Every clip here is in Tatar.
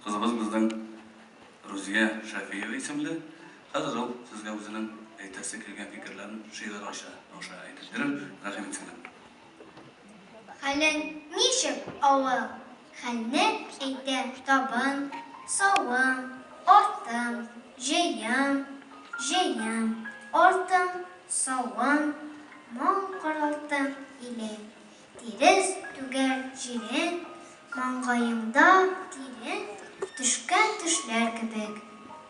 Кызыбыз безнең Рузия Шәфиева исемле. Хәзер ул сезгә үзенең әйтәсе килгән фикерләрен шигырь аша аша әйтеп бирер. Рәхим итсеннәр. Хәлең ничек, авыл? Хәлне әйтә табын, савым, артым, җыем, җыем, артым, савым, мал каралтым, иле. Тирес түгәр җирен, маңгаемда тирен төшкән төшләр кебек,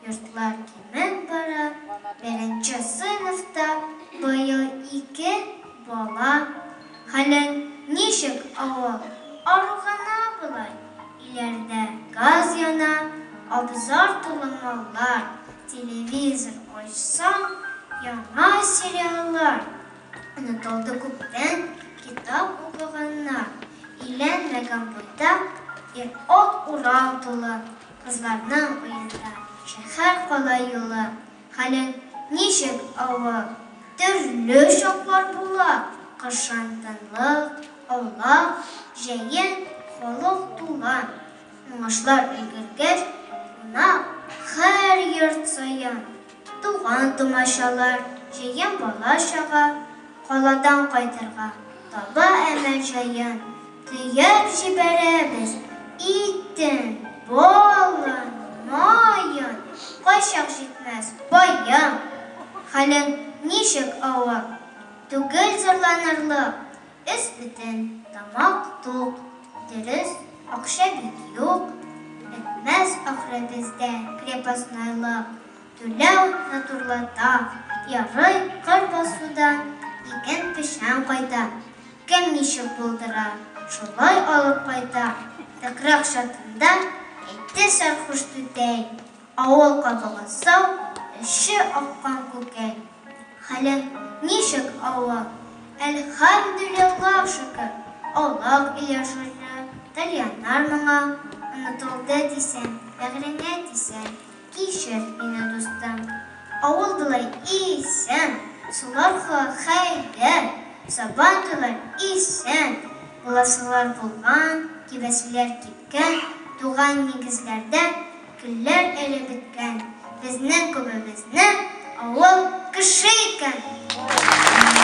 йортлар кимеп бара, беренче сыйныфта быел ике бала, хәлең ничек авыл, ару гына болай, өйләрдә газ яна, абзар тулы маллар, телевизор ачсаң, яңа сериаллар. Онытылды күптән китап укыганнар. Илән вә компотта ир-ат урау тулы, Кызларның уенда шәһәр-кала юлы. Хәлең ничек, авыл? Төрле чаклар була, Кышын тынлык, аулак, җәен халык тула. Уңышлар өлгергәч, кунак һәр йорт саен. Туган-тумачалар, җыен бала-чага, Каладан кайтырга таба әмә җаен Төяп җибәрәбез итен, балын, маен, Кайчак җитмәс паең. Хәлең ничек, авыр? Түгел зарланырлык, Өс бөтен, тамак тук, дөрес, акча бит юк, бетмәс ахры бездә крепостнойлык, түләү натурлата, ярый кыр басудан иген печән кайта, кем ничек булдыра, шулай алып кайта, тыкрак чатында әйтте сәрхуш түтәй. Авыл катыгы сау, эче аккан күкәй. Хәлең ничек, Алла? Әлхәмдүлиллаһ, шөкер. Аулак өйә шушы, тальяннар моңа. Онытылды дисәм, бәгыреңә тисәм, кичер мине, дустым. Авыл болай исән, сулар ха-хәйләр, сабан туйлар исән, буласылар булган, кибәселәр кипкән, туган нигезләрдә. Көлләр әле беткән, безнең күбебезнең авыл кеше икән.